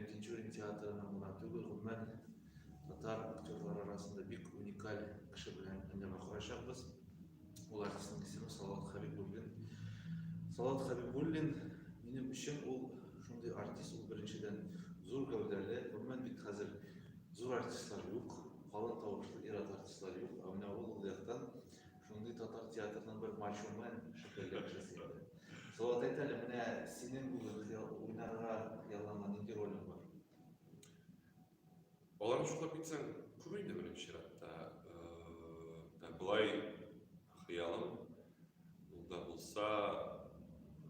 Тинчурин театрының гына түгел, гомумән, татар актерлары арасында бик уникаль кеше белән әңгәмә корачакбыз. Ул артистның исеме Салават Хәбибуллин. Салават Хәбибуллин минем өчен ул шундый артист, ул беренчедән зур гәүдәле, гомумән бит хәзер зур артистлар юк, калын тавышлы ир-ат артистлар юк, ә менә ул ул яктан Шундый татар театрының бер мачуме шикелле кеше син. Салават әйт әле, менә синең үзең уйнарга ялланган нинди ролең бар? Аларны шуклап китсәң, күп инде беренче чиратта. Ә, Былай хыялым ул да булса,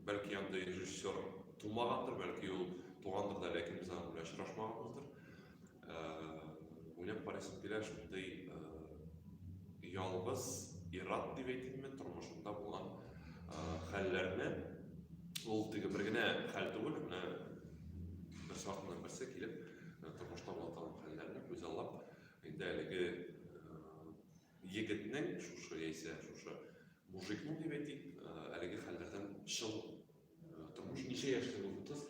бәлки андый режиссер тумагандыр, бәлки ул тугандыр да, ләкин без аның белән очрашмаганбыздыр. Уйлап карыйсым килә, шундый ялгыз ир-ат дип әйтимме, тормышымда булган хәлләрне, ул теге бер генә хәл түгел, менә бер сартыннан берсе килеп, тормышта була торган хәлләрне күзаллап, инде әлеге егетнең шушы яисә шушы мужикның дип әйтик, әлеге хәлләрдән чын тормыш ничә яшьтә булды кыз?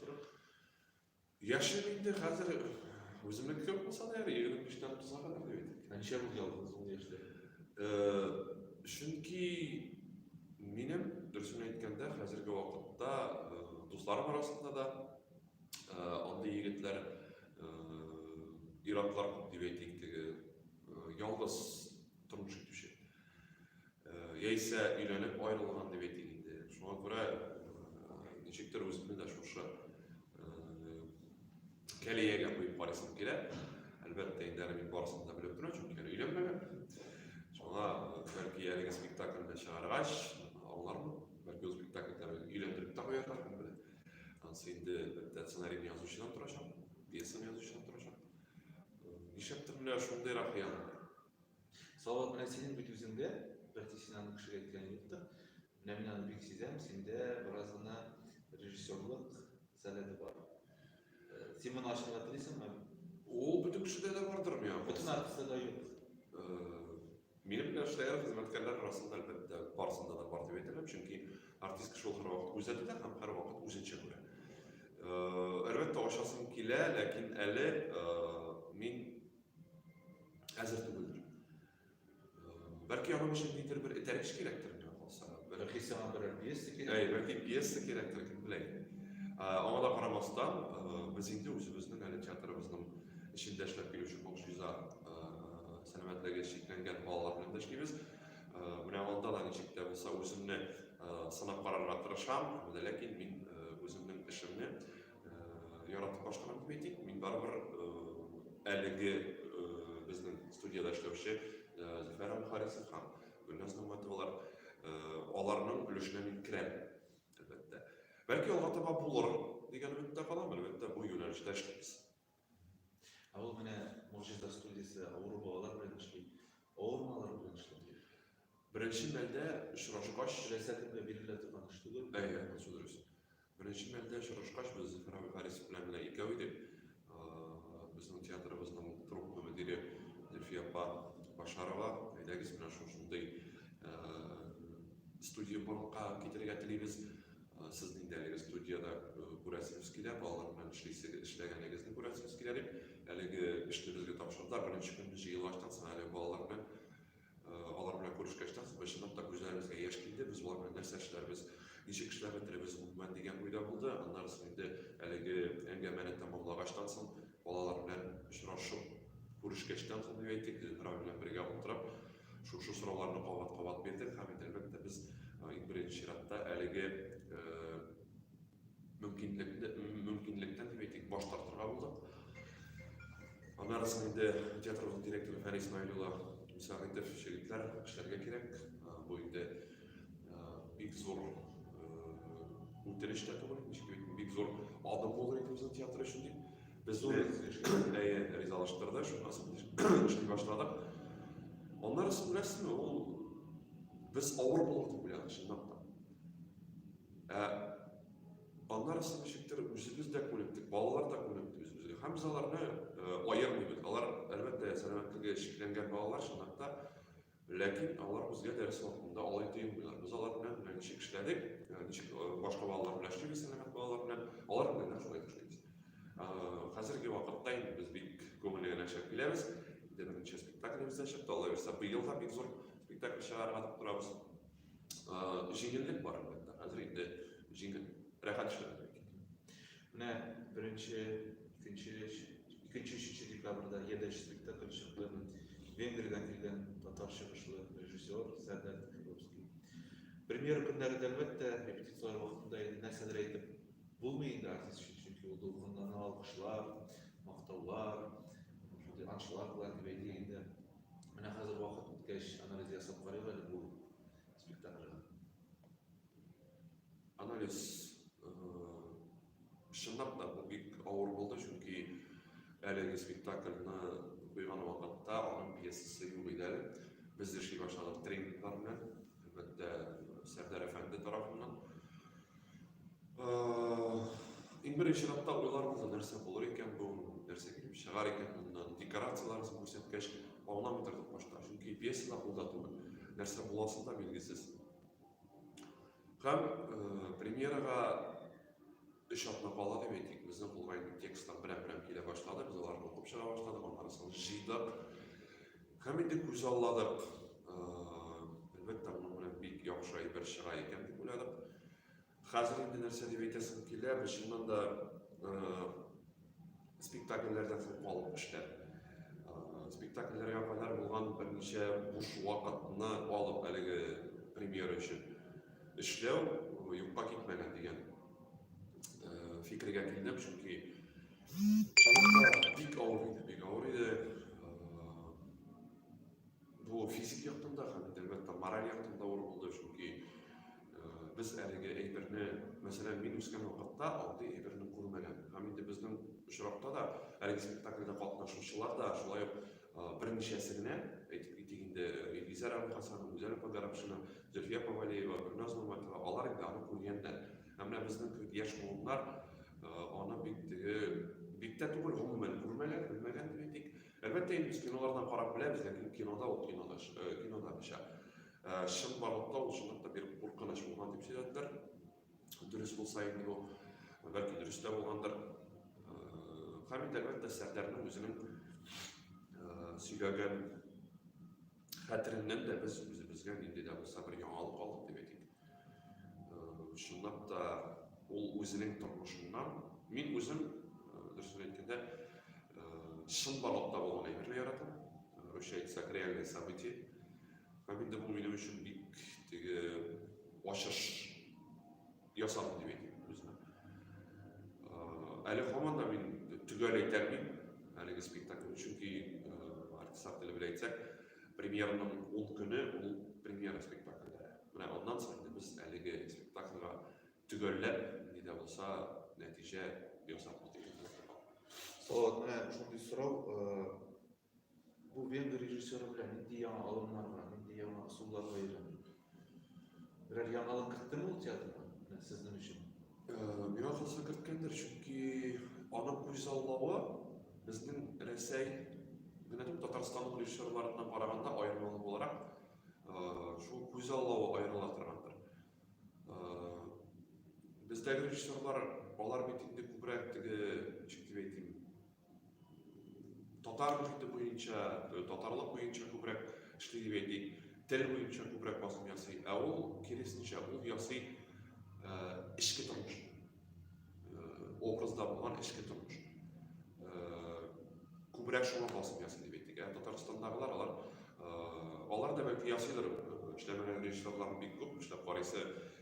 Яшем инде хәзер үземнеке күп булса да әле егерме биштән туза кадәр бит. Ә ничә булды ялгыз ул яшьтә? Чөнки минем дөресен әйткәндә хәзерге вакытта дусларым арасында да андый егетләр иратлар күп дип әйтик теге ялгыз тормыш итүче. Яисә өйләнеп аерылган дип әйтик инде. Шуңа күрә ничектер үземне дә шушы кәлиягә куеп карыйсым килә. Әлбәттә, инде әле мин барысын да белеп торам, чөнки әле өйләнмәгән. Шуңа бәлки әлеге спектакльне чыгаргач, аңлармын. Бәлки ул спектакльдә мин өйләндереп тә куярлар, кем белә. Ансы инде әлбәттә сценарийны язучыдан торачак, пьесаны язучыдан торачак. Нишләптер менә шундыйрак хыял. Салават, менә синең бит үзеңдә, бәлки син аны кешегә әйткән юктыр. Менә мин аны бик сизәм, синдә бераз гына режиссерлык сәләте бар. Э, син моны ачарга телисеңме? Ул бөтен кешедә дә бардыр, миңа Бөтен калса. артистта да юк. Э, Минем белән эшләгән хезмәткәрләр арасында, әлбәттә, барысында да бар дип әйтә алам, чөнки артист кеше ул һәрвакыт гүзәл итә һәм һәрвакыт үзенчә күрә. Э, Әлбәттә, ачасым килә, ләкин әле э, мин әзер түгелдер. Бәлки аның өчен нидер бер этәргеч кирәктер миңа калса. Бәлки сиңа берәр пьеса кирәк. Әй, бәлки пьеса кирәктер, кем белә. Аңа да карамастан, без инде үзебезнең әле театрыбызның эчендә эшләп килүче Кокшиза сәламәтлеге чикләнгән балалар белән дә эшлибез. Менә анда да ничек тә булса үземне сынап карарга тырышам, ләкин мин үземнең эшемне Яратып башкарам дип әйтик. Мин барыбер әлеге безнең студиядә эшләүче Зөфәр Әбүхарисов һәм Гөлназ Нигъмәтовалар аларның өлешенә мин керәм, әлбәттә. Бәлки алга таба булырмын дигән өметтә калам, әлбәттә, бу юнәлештә эшлибез. Ә ул менә Могҗиза студиясе авыру балалар белән эшли, авырмалар белән эшләп йөри. Беренче мәлдә очрашкач, теләсә кемгә бирелә торган эш түгел. Әйе, ансы дөрес. Беренче мәлдә очрашкач, без Зөфәр абый Харисов белән генә икәү идек. Безнең театрыбызның труппа мөдире Зөлфия апа Башарова, әйдәгез, менә шушындый студия барлыкка китерергә телибез, Сез нинди әлеге студиядә күрәсегез килә, балалар белән эшлисегез, эшләгәнегезне күрәсегез килә дип, әлеге эшне безгә тапшырдылар. Беренче көнне җыелгачтан соң, әлеге балалар белән, алар белән күрешкәчтән соң, без чынлап та күзләребезгә яшь килде. Без болар белән нәрсә эшләрбез, ничек эшләп бетерербез гомумән дигән уйда булды. Аннары соң инде әлеге әңгәмәне тәмамлагачтан соң, Балалар белән очрашып, күрешкәчтән соң, дип әйтик, Зөһрә белән бергә утырып, шушы сорауларны кабат-кабат бирдек һәм инде, әлбәттә, без иң беренче чиратта әлеге мөмкинлектән, дип әйтик, баш тартырга булдык. Аннары соң инде театрыбызның директоры Фәнис Наил улы Мөсәгыйтов, Җегетләр, эшләргә кирәк. Бу инде Бик зур үтереш тә түгел, ничек әйтим, бик зур адым булыр иде безнең театр өчен дип. Без зур әйе, ризалаштырды, шуннан эшли башладык. Аннары сез беләсезме, ул без авыр булыр дип уйладык, чынлап та. Ә аннары сез ничектер үзебез дә күнектек, балалар да күнекте үзебезгә. Һәм без аларны аермыйбыз. Алар, әлбәттә, сәламәтлеге шикләнгән балалар, чынлап та, Ләкин алар үзгә дәрес вакытында алай тоелмыйлар. Без алар белән менә ничек эшләдек, э, ничек э, башка балалар белән эшлибез, сәламәт балалар белән, алар белән дә шулай эшлибез. Э, хәзерге вакытта инде без бик күңелле генә эшләп киләбез. Инде беренче спектаклебез дә чыкты, алайса быел да бик зур спектакль чыгарырга дип торабыз. Җиңеллек бар әлбәттә, хәзер инде җиңел, рәхәт эшләп Менә беренче, икенче, икенче, өченче декабрьда Еда эшчелектә килеп чыкты. Венгриядән килгән татар чыгышлы режиссер Сәрдәр Филовский. Премьера көннәрендә, әлбәттә, репетицияләр вакытында инде нәрсәдер әйтеп булмый инде артист өчен, чөнки ул дулкынлана алкышлар, мактаулар, шундый аншлаг белән дип әйтик инде. Менә хәзер вакыт үткәч, анализ ясап карыйк әле бу спектакльгә. Анализ э, чынлап та бу бик авыр булды, чөнки әлеге спектакльны куйган вакытта аның пьесасы юк иде әле. Без эшли башладык тренинглар белән, әлбәттә, Сәрдәр әфәнде тарафыннан. Э, иң беренче чиратта уйларыбызда нәрсә булыр икән бу, нәрсә килеп чыгар икән моннан, декорацияләрен күрсәткәч, аңламый тордык башта, чөнки пьесада кулда түгел нәрсә буласы да билгесез Һәм э, премьерага өч атна кала дип әйтик, безнең кулга инде текстлар берәм-берәм килә башлады, без аларны укып чыга башладык, аннарысын җыйдык. Һәм инде күз алладык. Э, әлбәттә, моның белән бик яхшы әйбер чыга икән дип уйладык. Хәзер инде нәрсә дип әйтәсем килә, без чыннан да э, спектакльләрдә соң калып эшләп спектакльләргә кадәр булган берничә буш вакытны алып әлеге премьера өчен эшләү юкка китмәгән дигән фикергә килдем чөнки чынында бик авыр иде бик авыр иде Бу физик яктан да һәм әлбәттә мораль яктан да авыр булды, чөнки без әлеге әйберне, мәсәлән, мин үскән вакытта андый әйберне күрмәгән. Һәм инде безнең очракта да әлеге спектакльдә катнашучылар да шулай ук берничәсе генә, әйтеп китик инде, Илгизәр Әбүлхасан, Гүзәл апа Гарәпшина, Зөлфия Павалиева, Гөлназ Нурматова, алар инде аны күргәннәр. Һәм менә безнең кебек яшь буыннар аны бик теге бик тә түгел, гомумән күрмәгән, белмәгән дип әйтик. Әлбәттә инде без кинолардан карап беләбез, ләкин кинода ул кинода, кинода мичә. Чынбарлыкта ул чынлап та бик куркыныч булган дип сөйләделәр. Дөрес булса инде бу, бәлки дөрес тә булгандыр. Хәмит әлбәттә Сәрдәрнең үзенең сөйләгән хәтереннән дә без үзебезгә нинди дә булса бер яңалык алдык дип әйтик. Э, чынлап та ул үзенең тормышыннан мин үзем э, дөресен әйткәндә э, чын барлыкта булган әйберне яратам. Русча әйтсәк, реальные события. Һәм инде бу минем өчен бик теге ачыш ясадым дип әйтәм үземә. Әле һаман да мин төгәл әйтә алмыйм әлеге спектакль, чөнки артистлар теле белән әйтсәк, премьераның 10 көне ул премьера спектакльләре. Менә аннан соң инде без әлеге спектакльгә төгәлләп ни дә булса нәтиҗә ясап китәбез. Салават, менә шундый сорау, Бу венгр режиссеры белән нинди яңа алымнарга, нинди яңа ысулларга өйрәнде? Берәр яңалык кертте ул театрга? Менә сезнең өчен. Э, миңа калса керткәндер, чөнки аның күзаллавы безнең Рәсәй генә түгел, Татарстан режиссерларына караганда аермалы буларак э, шул күзаллавы аерыла торгандыр. Э, бездәге режиссерлар алар бит инде күбрәк теге ничек дип әйтим, Татар мохите буенча, э, татарлык буенча күбрәк эшли дип әйтик, тел буенча күбрәк басым ясый, ә ул киресенчә, ул ясый э, эчке тормыш, э, образда булган эчке тормыш. Э, күбрәк шуңа басым ясый дип әйтик. Ә Татарстандагылар алар э, алар да бәлки ясыйлар, э, эшләмәгән режиссерлар бик күп, эшләп карыйсы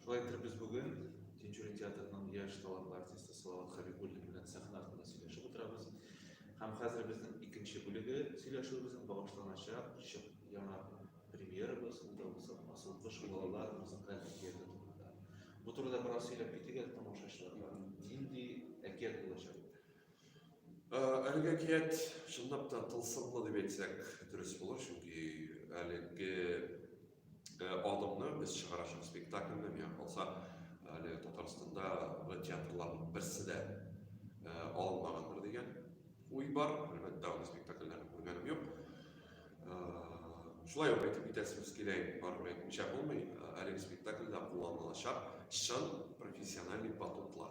Шулай итеп без бүген Тинчурин театрының яшь талантлы артисты Салават Хәбибуллин белән сәхнә артында сөйләшеп утырабыз. Һәм хәзер безнең икенче бүлеге сөйләшүебезнең багышланачак чык яңа премьерабыз, ул да булса Асыл кыш балалар музыкаль әкияте турында. Бу турыда бераз сөйләп китик әле тамашачыларга. Нинди әкият булачак? Әлеге әкият чынлап та тылсымлы дип әйтсәк дөрес булыр, чөнки әлеге Э, Адымны без чыгарачак спектакльне, миңа калса, әле Татарстанда бу театрларның берсе дә э, алынмагандыр дигән уй бар. Әлбәттә, аны спектакльләрне күргәнем юк. Шулай ук әйтеп китәсебез килә, барыбер әйтмичә булмый, әлеге спектакльдә кулланылачак чын профессиональный батутлар.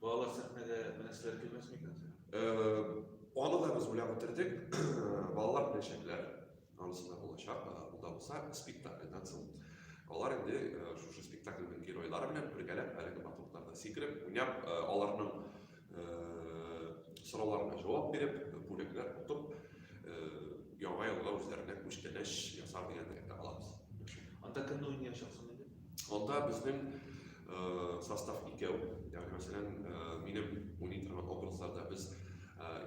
Балалар сәхнәдә беләсезләр килмәс микән? Аны да без уйлап бетердек. Балалар беләчәкләр. Анысы да булачак. Ул да булса спектакльдан соң. Алар инде шушы спектакльнең геройлары белән бергәләп әлеге батутларда сикереп, уйнап, аларның сорауларына җавап биреп, бүләкләр отып, яңа елга үзләренә күчтәнәч ясар дигән теләктә калабыз. Анда кемне уйнаячаксың? Анда безнең состав икәү, ягъни мәсәлән, минем уйный торган образларда без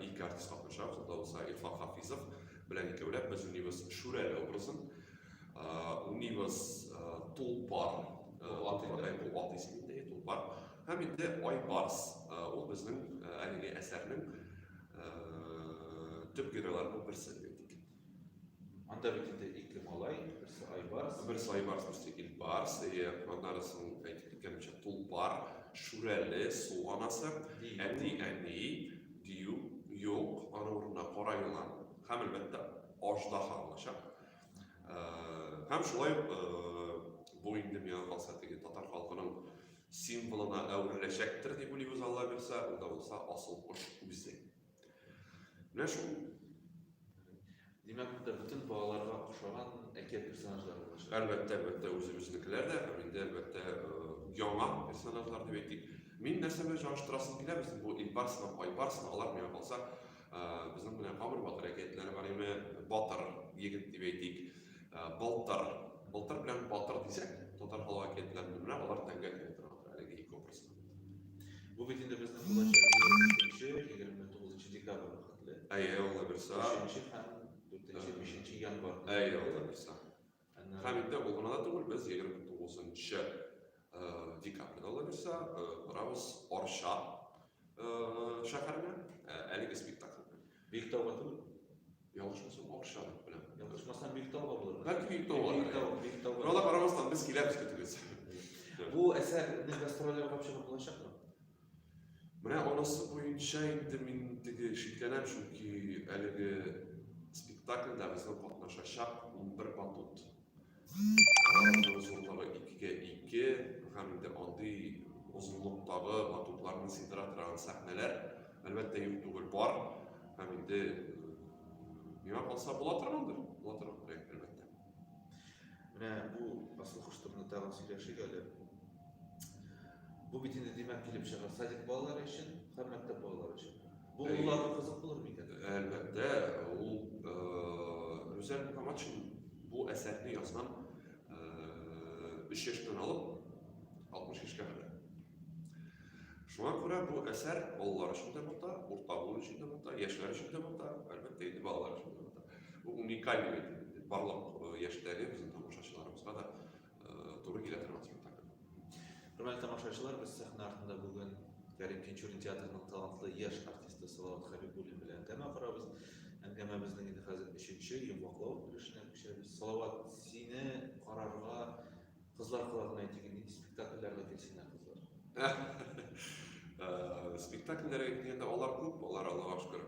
ике артист катнашабыз, анда булса Илфак Хафизов белән икәүләп без уйныйбыз Шүрәле образын. Уйныйбыз Тулпар, Тулпар, бу ат исеме инде, Тулпар. Һәм инде Айбарс, ул безнең әлеге әсәрнең төп геройларының берсе дип әйтик. Анда бит инде ике малай, берсе Айбарс. Берсе Айбарс, берсе Илбарс. Эйе, аннары соң әйтеп киткәнемчә, тулпар, шүрәле, су анасы, әти, әни, дию, юк, аның урынына кара елан һәм әлбәттә аждаһа булачак. Э, һәм шулай ук э, бу инде миңа калса теге татар халкының символына әвереләчәктер дип уйлыйбыз Алла бирсә, ул да булса асыл кош үзе. Менә шул. Димәк, монда бөтен балаларга ошаган әкият персонажлары булачак. Әлбәттә, әлбәттә, үзебезнекеләр дә, һәм инде әлбәттә яңа персонажлар дип әйтик. Мин нәрсә белән чагыштырасым килә, безнең бу Илбарс һәм Айбарс, алар миңа калса, безнең менә Камыр батыр әкиятләре бар име, батыр егет дип әйтик, балтыр, балтыр белән батыр дисәк, татар халык әкиятләрендә менә алар тәңгәл килә торган әлеге ике образ. Бу бит инде безнең булачак 29 декабрь вакытлы. Әйе, алла бирса. 3 һәм 4 5 январь. Әйе, алла бирса. Һәм инде ул гына да түгел, без 29 декабрьдә алла бирса барабыз Арча шәһәренә әлеге спектакль белән. Биектау батыр. Ялгышмасам акча белән. Ялгышмасам Биектау булыр. Бәлки Биектау бар. Биектау, Биектау. Бер алла карамастан без киләбез көтегез. Бу әсәр без гастрольләргә барып чыгып булачакмы? Менә анысы буенча инде мин теге шикләнәм, чөнки әлеге спектакльдә безгә катнашачак 11 батут. Аның озынлыгы икегә ике һәм инде андый озынлыктагы батутларны сыйдыра торган сәхнәләр, әлбәттә, юк түгел бар. Һәм инде миңа калса була торгандыр, була торган проект, әлбәттә. Менә бу асыл коштурны тагын сөйләшик әле. Бу бит инде димәк килеп чыгар садик балалары өчен һәм мәктәп балалары өчен. Бу улларга кызык булыр микән? Әлбәттә, ул Рүзәл Мөхәммәтшин бу әсәрне язган 3 яшьтән алып 60 яшькә кадәр. Шуңа күрә бу әсәр балалар өчен дә монда, урта буын өчен дә монда, яшьләр өчен дә монда, әлбәттә, инде балалар өчен дә монда. Бу уникаль барлык яшьтәге безнең тамашачыларыбызга да туры килә торган спектакль. Хөрмәтле тамашачылар, без сәхнә артында бүген Кәрим Тинчурин театрының талантлы яшь артисты Салават Хәбибуллин белән әңгәмә корабыз. Әңгәмәбезнең инде хәзер өченче, йомгаклау өлешенә күчәбез. Салават, сине карарга кызлар колагына әйтик, нинди спектакльләргә килсеннәр кызлар? Спектакльләргә килгәндә, алар күп, алар, Аллага шөкер.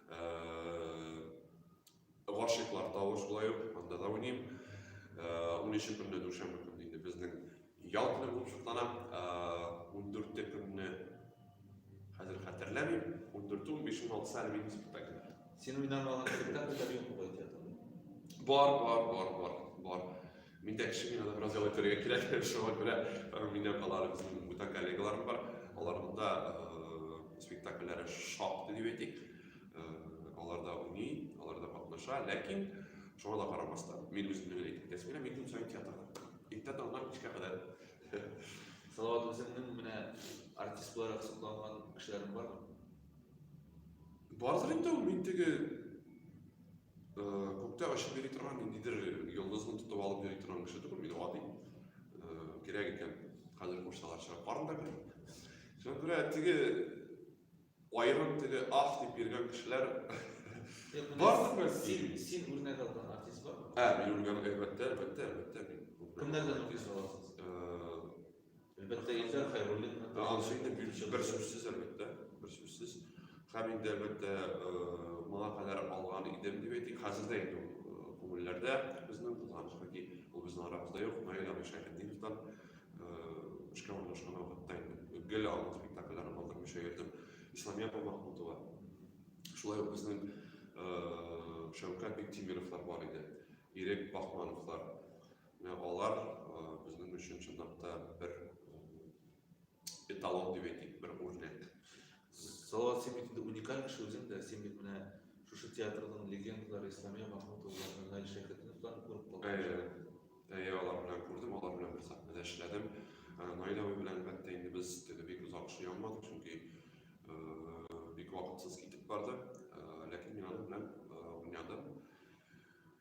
Гашиклар тавы шулай ук, анда да уйныйм. Унөче көнне дүшәмбе көнне инде безнең ял көне булып чыклана. Ундүрте көнне хәзер хәтерләмим. Ундүрте, унбиш, уналтысы әле минем спектакль. Син уйнамаган спектакльләр юкмы гай театрда? Бар, бар, бар, бар, бар. Мин дә кеше, миңа да бераз ял итәргә кирәк, шуңа күрә минем алар безнең бүтән коллегаларым бар, аларның да спектакльләре шактый дип әйтик, алар да уйный, алар да катнаша, ләкин шуңа да карамастан, мин үземне генә әйтеп китәсем килә, мин көн саен театрда, иртә таңнан кичкә кадәр. Салават, үзеңнең менә артист буларак сокланган кешеләрең бармы? Бардыр инде ул, мин теге Күктә очып йөри торган ниндидер йолдызны тотып алып йөри торган кеше түгел мин гади кирәк икән хәзер кушсалар чыгып барын да күрәм шуңа күрә теге аерым теге ах дип йөргән кешеләр барсын да син син үрнәк алган артист бар ә мин үрнәк әлбәттә әлбәттә әлбәттә мин кемнәрдән үрнәк аласыз Әлбәттә, Илфәр Хәйруллинны танып бер сүзсез, әлбәттә, бер сүзсез. Һәм инде, әлбәттә, моңа кадәр алган идем дип әйтик. Хәзер дә инде күңелләрдә безнең булган чөнки ул безнең арабызда юк. Наил абый Шәйхетдиновтан эшкә урнашкан вакытта инде гел аның спектакльләрен калдырмыйча йөрдем. Исламия апа Махмутова. Шулай ук безнең Шәүкәт Биктимировлар бар иде. Ирек Бахмановлар. Менә алар безнең өчен чынлап та бер эталон дип әйтик, бер үрнәк. Салават Сибитинде уникаль кеше үзең дә, син бит менә шушы театрның легендалары Исламия Махмутовларны, Наил Шәкетовларны күреп калдың. Әйе, алар белән күрдем, алар белән бер сәхнәдә эшләдем. Наил абый белән әлбәттә инде без теге бик озак эшли алмадык, чөнки бик вакытсыз китеп барды. Ләкин мин аның белән уйнадым.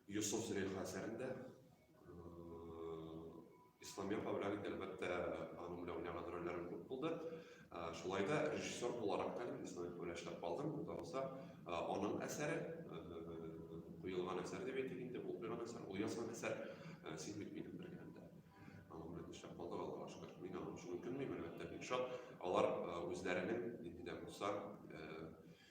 Йосыф Зөләйха әсәрендә Исламия Кавлән инде, әлбәттә, аның белән уйнаган рольләрем күп булды. Шулай да режиссер буларак та Исламия Кавлән эшләп калдым. Бу да аның әсәре, куелган әсәр дип әйтик инде, ул куелган әсәр, ул язган әсәр, син бит минем бер генә дә. Аның белән эшләп калдык, Аллага шөкер. Мин аның өчен үкенмим, әлбәттә, бик шат. Алар үзләренең нинди дә булса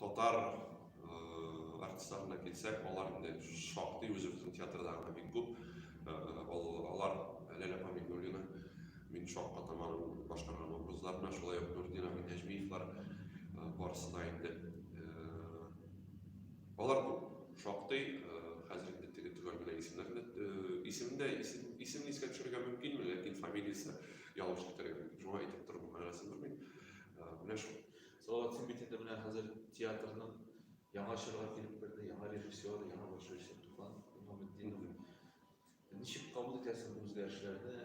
Татар артистларына килсәк, алар инде шактый үзе бөтен театрдагыдан бик күп. Алар Ләлә апа Миңнуллина, мин Шакка атаманың башкарган образларына, шулай ук Нуртдин абый Нәҗмиевлар барысы да инде. Алар күп, шактый, хәзер инде теге төгәл генә исемнәрне исемен дә исемен искә төшерергә мөмкинме, ләкин фамилиясе ялгыш китерер идем. Шуңа әйтеп тору мөһимрәк булмый. Менә шул. Золотые битенде менә хәзер театрның яңа чорга килеп керде, яңа режиссер, яңа башлыйчы Туфан Имаметдинов. Ничек кабул итәсез бу үзгәрешләрне?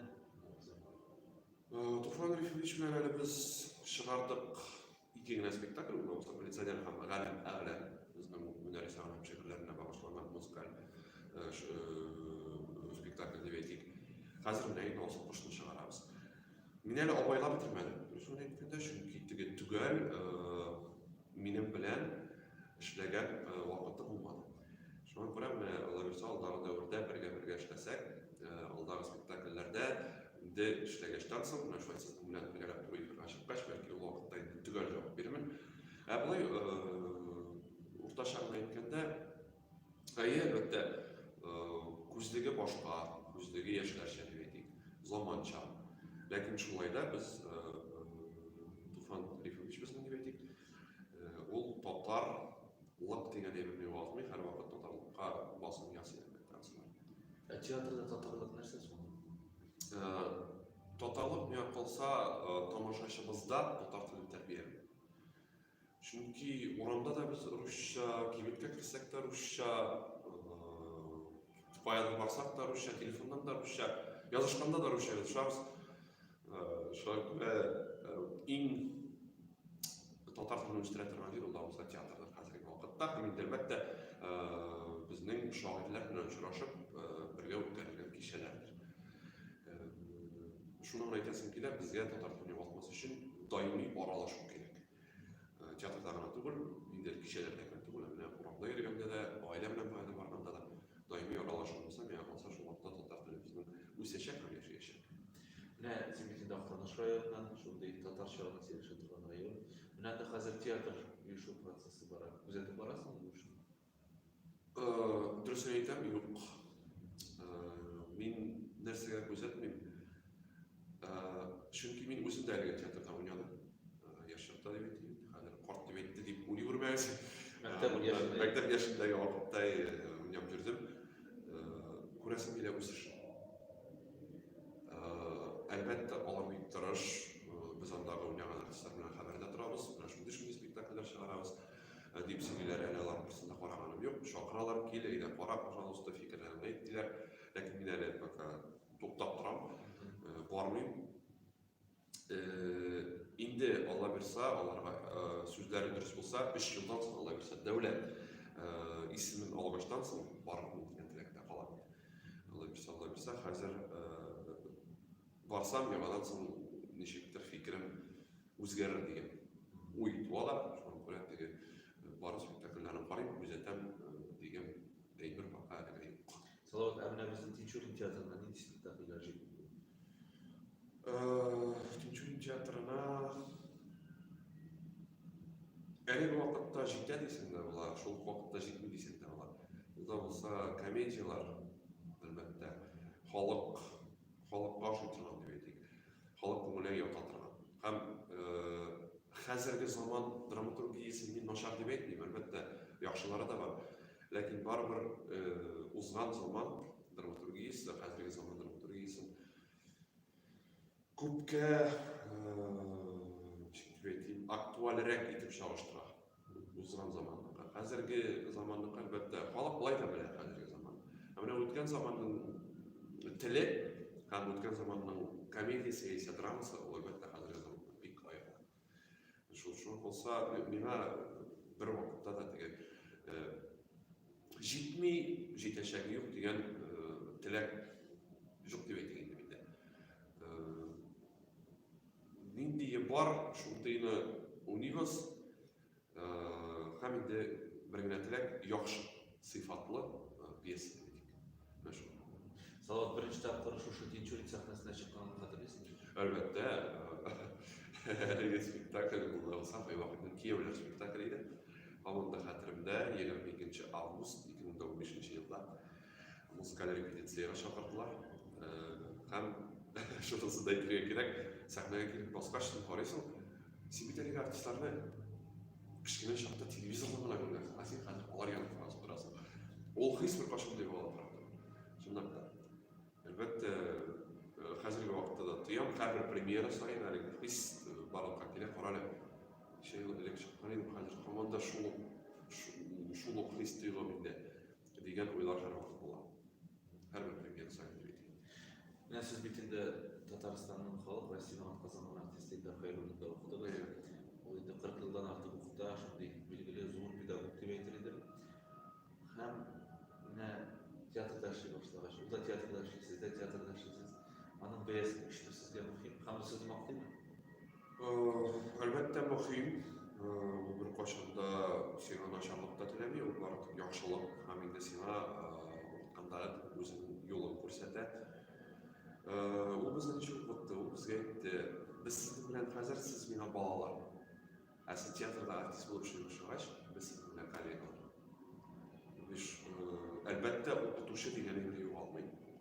Туфан Рифович белән әле без чыгардык ике генә спектакль, бу булса милиционер һәм галәм әгълә безнең Мөнәрис һәм шигырьләренә багышланган музыкаль спектакль дип әйтик. Хәзер менә инде алсу кошны чыгарабыз. Мин әле абайлап бетермәдем. Дөресен әйткәндә, чөнки теге төгәл минем белән эшләгән вакыты булмады. Шуңа күрә менә Лаверса алдагы дәвердә бергә-бергә эшләсәк, алдагы спектакльләрдә инде эшләгәчтән соң, менә шулай сезнең белән бергәләп тур эфирга чыккач, бәлки ул вакытта инде төгәл җавап бирермен. Ә болай уртача гына әйткәндә, Әйе, әлбәттә, э, күзлеге башка, күзлеге яшьләрчә дип әйтик, заманча. Ләкин шулай да без э, Туфан Рифович безнең дип әйтик, э, ул татар лак дигән әйберне югалтмый, һәрвакыт татарлыкка басым ясый әлбәттә. Ә театрда татарлык нәрсә соң? Татарлык миңа калса тамашачыбызда татар телен тәрбия Чөнки урамда да без русча, кибеткә керсәк тә русча, поэт барсак та русча, телефоннан да русча, язышканда да русча язышабыз. Шуңа күрә иң татар телен үстерә торган җир ул Авызда театрдыр хәзерге вакытта. Һәм инде әлбәттә безнең шагыйрьләр белән очрашып бергә үткәрелгән кичәләрдер. Шуны гына әйтәсем килә, безгә татар телен югалтмас өчен даими аралашу кирәк. Театрда гына түгел, ниндидер кичәләрдә генә түгел, ә менә урамда йөргәндә дә, гаилә белән баянга барганда да даими аралашуыбызны миңа калса шул вакытта татар теле безнең үсәчәк һәм яшәячәк. Менә син бит инде Актаныш районыннан, шундый татарча гына сөйләшә торган район. Менә анда хәзер театр оешу процессы бара. Күзәтеп барасыңмы бу эшне? Дөресен әйтәм, юк. Мин нәрсәгә күзәтмим. Чөнки мин үзем дә әлеге театрда уйнадым. Яшь чакта дип әйтим. Хәзер карт дип әйтте дип уйлый күрмәгез. Мәктәп яшендәге вакытта уйнап йөрдем. Күрәсем килә үсеш. Әлбәттә, алар бик тырыш. Без андагы уйнаган артистлар белән хәбәрдә торабыз. Менә шундый-шундый спектакльләр чыгарабыз. Ә дип сөйлиләр, әле алар берсендә караганым юк. Чакыралар, кил, әйдә кара, пожалуйста, фикерләреңне әйт, диләр. Ләкин мин әле пока туктап торам, бармыйм. Инде Алла бирса, аларга сүзләре дөрес булса, 3 елдан соң Алла бирса, дәүләт исемен алгаштан соң барырмын дигән теләктә калам. Алла бирса, Алла бирса, хәзер Барсам, яңадан соң ничектер фикерем үзгәрер дигән уй туа да, шуңа күрә теге бары спектакльләрен карыйм, күзәтәм дигән әйбер бака әлегә юк. Салават, ә менә безнең Тинчурин театрына нинди спектакльләр җитми? Тинчурин театрына әлеге вакытта җитә дисең дә була, шул вакытта җитми дисең дә була. Югыйсә комедияләр, әлбәттә, халык Халыкка ошый торган дип әйтик, халык күңеле ята торган. Һәм хәзерге заман драматургиясе мин начар дип әйтмим, әлбәттә, яхшылары да бар. Ләкин барыбер узган заман драматургиясе, хәзерге заман драматургиясе күпкә, ничек дип әйтим, актуальрәк итеп чагыштыра. Узган заманныкка, хәзерге заманныкка, әлбәттә, халык болай да белә хәзерге заман. Ә менә үткән заманның теле һәм үткән заманның комедиясе яисә драмасы, ул әлбәттә хәзерге заманнан бик аерыла. Шул шул булса, миңа бер вакытта да теге җитми, җитәчәге юк дигән теләк юк дип әйтә инде миндә. Ниндие бар, шундыйны уйныйбыз. Һәм инде бер генә теләк, яхшы сыйфатлы пьеса телик. Менә шул. Салават, беренче тапкыр шушы Тинчурин сәхнәсенә чыкканын хәтерлисеңме? Әлбәттә. Әлеге спектакль булды булса, кайвакытны кияүләр спектакле иде. Һаман да хәтеремдә, 22 август 2015 елда Музыкаль репетициягә чакырдылар. Һәм шунысын да әйтергә кирәк, сәхнәгә килеп баскач, син карыйсың, син бит әлеге артистларны кечкенә чакта телевизордан гына күргәнсең, ә син хәзер алар янында барасың, торасың. Ул хис беркайчан да югала тора. Чынлап та. Әлбәттә, хәзерге вакытта да тоям, һәрбер премьера саен әлеге хис барлыкка килә, карале. Ничә ел элек чыккан идем, хәзер һаман да шул ук хис тоелам инде. дигән уйлар һәрвакыт була. Һәрбер премьер сайты бит. Менә сез бит инде Татарстанның халык һәм синагат казанган артисты Илдар Хәйруллинда укыдыгыз. Ул инде 40 елдан артык укыта, шундый билгеле зур педагог дип әйтер идем. Һәм менә театрда эшли башлагач, ул да театрда эшли, сез дә театрда эшлисез. Аның бәясе күчте сезгә мөһим. Һәм сез мактыймы? Әлбәттә, мөһим. Беркайчан да сиңа начарлык та теләми, ул бары тик яхшылык һәм инде сиңа укытканда үзенең юлын күрсәтә. Ул безне ничек укытты? Ул безгә әйтте, без сезнең белән хәзер, сез миңа балалар. Ә сез театрда артист булып эшли башлагач, без сезнең белән коллегалар. Биш, әлбәттә, укытучы дигәнеңне югалмый.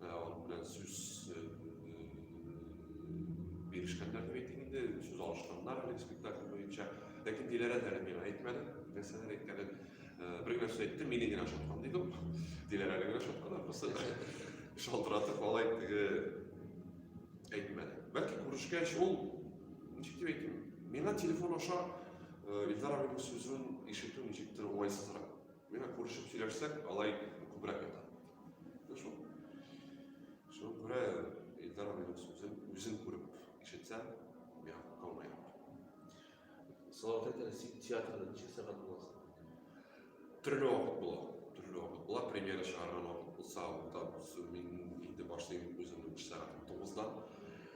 Аның белән сүз бирешкәннәр дип әйтик инде, сүз алышканнар әлеге спектакль буенча. Ләкин Диләрә әле миңа әйтмәде, нәрсәләр әйткәнен. Бер генә сүз әйтте, мине генә ошаткан дидем. Диләрә генә ошаткан, ахрысы. Шалтыратып алай теге әйтмәде. Бәлки күрешкәч ул ничек дип әйтим, миңа телефон аша Илдар абыйның сүзен ишетү ничектер уңайсызрак. Менә күрешеп сөйләшсәк, алай күбрәк ята. Менә шул. Шуңа күрә Илдар абыйның сүзен үзем күреп ишетсәм, миңа калмый. Салават әйтәләр, син театрда ничә сәгать буласың? Төрле вакыт була. Төрле вакыт була. Премьера чыгарган вакыт булса, анда мин инде башлыйм үземнең эш сәгатем 9-да.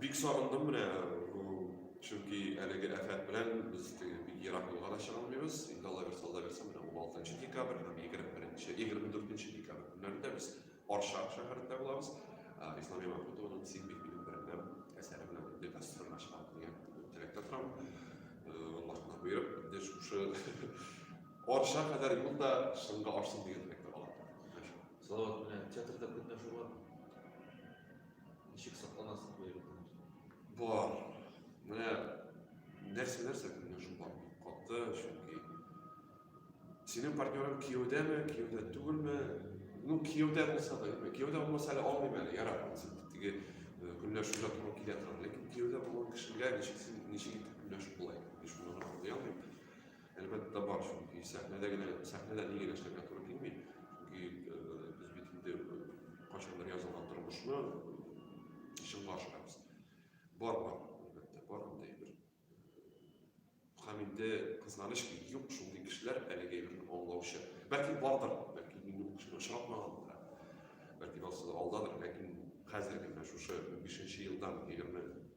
Бик сагындым менә, чөнки әлеге афәт белән без теге бик ерак юлга да чыга алмыйбыз. Инде Алла бирса, Алла бирса, менә 16 декабрь һәм 21-нче, 24-нче декабрь көннәрендә без Арча шәһәрендә булабыз. Ислам Яманкутованың Син бит минем бәрәнәм әсәре белән инде гастрольләргә чыгам дигән теләктә торам. Аллаһка боерып, инде шушы Арча кадәр юл да чынга ашсын дигән теләктә калам. Салават, менә театрда көнләшү бармы? Ничек сакланасыз бу егетне? Бар. Менә нәрсә нәрсә күренешем бар. Каты, чөнки синең партнерың кияүдәме, кияүдә түгелме? Ну, кияүдә булса да, юкмы? Кияүдә булмаса әле алмыйм әле, ярар, теге э, көнләшү ятуга килә торам. Ләкин кияүдә булган кешегә ничек син ничек итеп көнләшеп була икән? Мин шуны аңлый алмыйм. Әлбәттә бар, чөнки сәхнәдә генә, сәхнәдә нигә генә эшләргә туры килми. Чөнки э, без бит инде э, кайчандыр язылган тормышны чынга ашырабыз. Бар бар, әлбәттә, бар андый бер. Һәм инде кызганыч ки, юк шундый кешеләр әлеге әйберне аңлаучы. Бәлки бардыр, бәлки мин ул кешене очратмаган да. Бәлки алсыз алдадыр, ләкин хәзерге менә шушы 5 елдан 20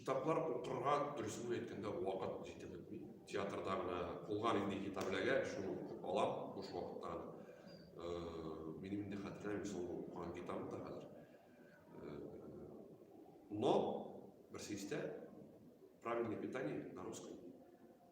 Китаплар укырга дөресен әйткәндә вакыт җитеп бетми. Театрда гына кулга нинди китап эләгә, шуны укып алам буш вакытта. Минем инде хәтерләмим соңгы укыган китабым да хәзер. Но берсе истә правильное питание на русском.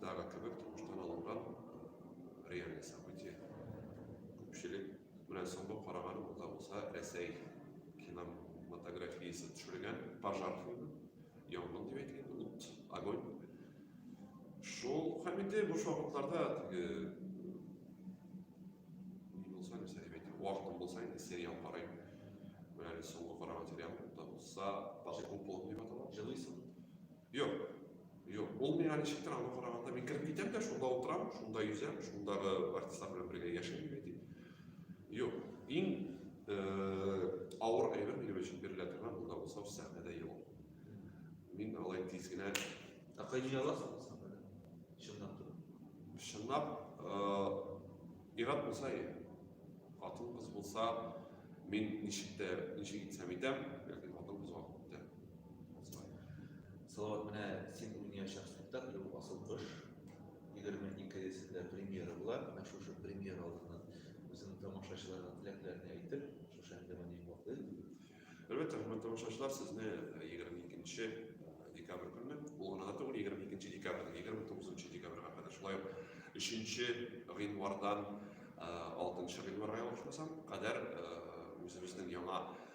Дагы кебек тормыштан алынган реальный событие. Күпчелек белән соңгы караган ул да булса Рәсәй киноматографиясе төшергән пожар фильмы. Янгын дип әйтик инде, ут, огонь. Шул һәм инде буш вакытларда теге ни булса, нәрсә дип әйтик, вакытым булса инде сериал карыйм. Менә әле соңгы караган сериал да булса, Пожар куполом дип атала. Җылыйсың. Юк, юк, ул миңа ничектер аңа караганда, мин кереп китәм дә, шунда утырам, шунда йөзәм, шундагы артистлар белән бергә яшим, ди. Юк, иң э, авыр әйбер минем өчен бирелә торган, ул да булса сәхнәдә елау. Мин алай тиз генә Ә кайда яласың сәхнәдә? Чынлап торып. чынлап э, ират булса иә. Хатын кыз булса, мин ничек тә ничек итсәм итәм, ләкин хатын кызга күптән Салават, менә син уйнаячак спектакль ул асыл кыш. 22-сендә премьера була. Менә шушы премьера алдыннан үзеңнең тамашачыларга теләкләреңне әйтеп, шушы әңгәмәне йомгаклыйк. Әлбәттә, хөрмәтле тамашачылар, сезне 22 э, э, декабрь көнне, ул гына да түгел, 22 декабрь, 29 декабрьга кадәр, шулай ук 3 гыйнвардан 6 э, гыйнварга ялгышмасам, кадәр үзебезнең яңа